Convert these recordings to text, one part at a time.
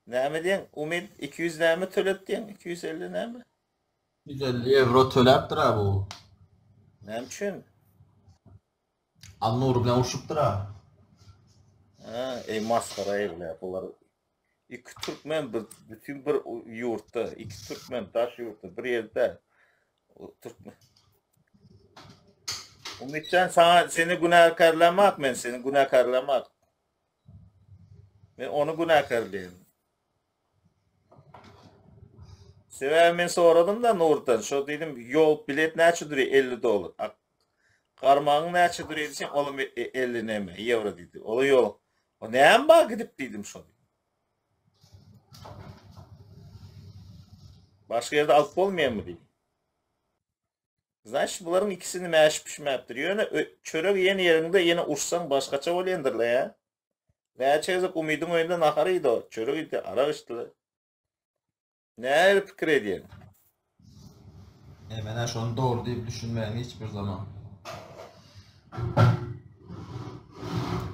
Näme diýeň, Umid, iki ýüz näme tölet diýeň, iki ýüz elli näme? Iki ýüz elli ewro töläpdir-ä bu. Näme üçin? Alnury bilen urşupdyr-ä. Hä, eý masgara egle, bular iki türkmen bir bütin bir ýurtda, iki türkmen daş ýurtda, bir ýerde. Türkmen. Umid jan, saňa seni günäkärlämak men, seni günäkärlämak. Men ony günäkärleýin. Sebäbi men soradym-da Nurdan, şo diýdim, ýol bilet näçe durýar? 50 dollar. A garmagyň näçe durýar diýsem, olam 50 näme, ýewro diýdi. Ola ýok. O näme bar gidip diýdim şo. Başga ýerde alyp bolmaýarmy diýdim. Znaçt bularyň ikisi nime äşip pişmäpdir. Ýöne çöregi iýen ýeriňde ýene uçsaň başgaça bolýandyrla ýa. Näçe gezek Umydyň öýünde nahar iýdi-o, çörek iýdi, arak içdi-le. Nähili pikir edýäň? E, men-ä şony dogry diýip düşünmäýin hiç bir zaman.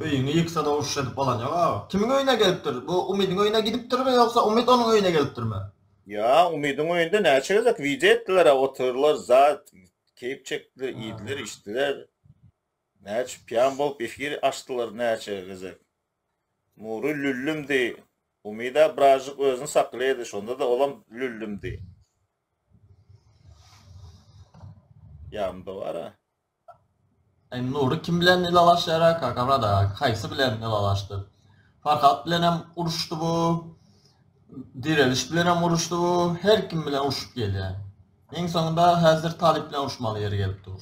Öýüňi ýyksa-da uruş edip bolan ýok-a. Kimiň öýüne gelipdir? Bu Umydyň öýüne gidipdirmi ýogsa Umyt onuň öýüne gelipdirmi? Ýa Umydyň öýünde näçe gezek wideo etdilerä oturdylar zat keýp çekdiler iýdiler içdiler näçe piýan bolup efir açdylar näçe gezek Nury lüllümdi Umyda biražyk özüni saklaýdy şondada olam lüllümdi ýamda bara. Sen Nury kim bilen ylalaşýara kaka brada haýsy bilen ylalaşdy Farhat bilenem uruşdy bu Direliş bilenem uruşdy bu her kim bilen urşup gelýä iň soňunda häzir Talyp bilen uruşmaly ýeri gelip dur.